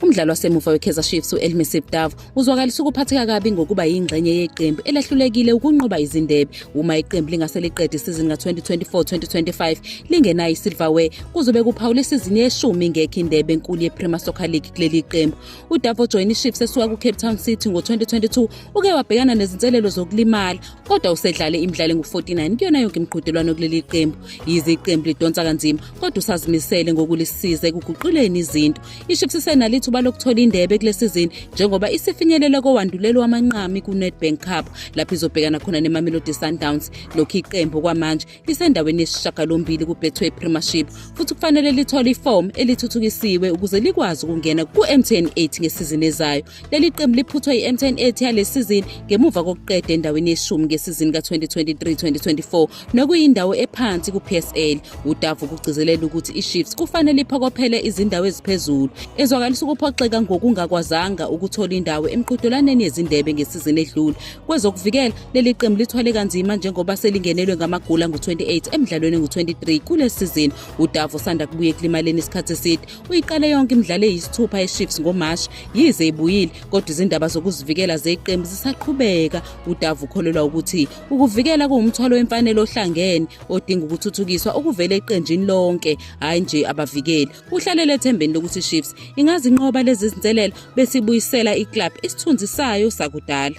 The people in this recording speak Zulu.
Umdlali wasemuva weKaizer Chiefs u-Elmi Sibdav uzwakalisa ukuphatheka kabi ngokuba yingxenye yeqembu elahlulekile ukunqoba izindebe. Uma iqembu lingase liqede isizini ka-2024-2025 lingenayo isilverware kuzobe kuphawula isizini yeshumi ingekho indebe enkulu yePremier Soccer League kuleli qembu. UDavo joyina iChiefs esuka kuCape Town City ngo-2022 uke wabhekana nezinselelo zokulimala kodwa usedlale imidlalo engu-49 kuyona yonke imiqhudelwano kuleli qembu. Yize iqembu lidonsa kanzima kodwa usazimisele ngokulisiza ekuguquleni izinto iships isenalithuba lokuthola indebe kule sizini njengoba isifinyelela kowandulelo wamanqami ku-nedbank cup lapho izobhekana khona nemamelodi sundowns lokhu iqembu kwamanje lisendaweni yesishagalombili kubetway premiership futhi kufanele lithole ifomu elithuthukisiwe ukuze likwazi ukungena ku-mtn 8 ngesizini ezayo Leli qembu liphuthwe yi-M10 ethi yale sizini ngemuva kokuqeda endaweni yeshumi ngesizini ka-2023-2024 nokuyindawo ephansi ku-PSL. UDavu kugcizelela ukuthi iChiefs kufanele iphokophele izindawo eziphezulu. Ezwakalisa ukuphoxeka ngokungakwazanga ukuthola indawo emqhudelwaneni yezindebe ngesizini edlule. Kwezokuvikela, leli qembu lithwale kanzima njengoba selingenelwe ngamagula ngu-28 emdlalweni ngu-23 kule sizini. UDavu usanda kubuye ekulimaleni isikhathi eside. Uyiqale yonke imidlalo eyisithupha eChiefs ngoMashi yize ibuyile kodwa izindaba zokuzivikela zeqembu zisaqhubeka. UDavu ukholelwa ukuthi ukuvikela kuwumthwalo wemfanele ohlangene odinga ukuthuthukiswa okuvela eqenjini lonke hhayi nje abavikeli. Uhlalele ethembeni lokuthi iChiefs ingazinqoba lezi zinselelo besibuyisela iclub isithunzi sayo sakudala.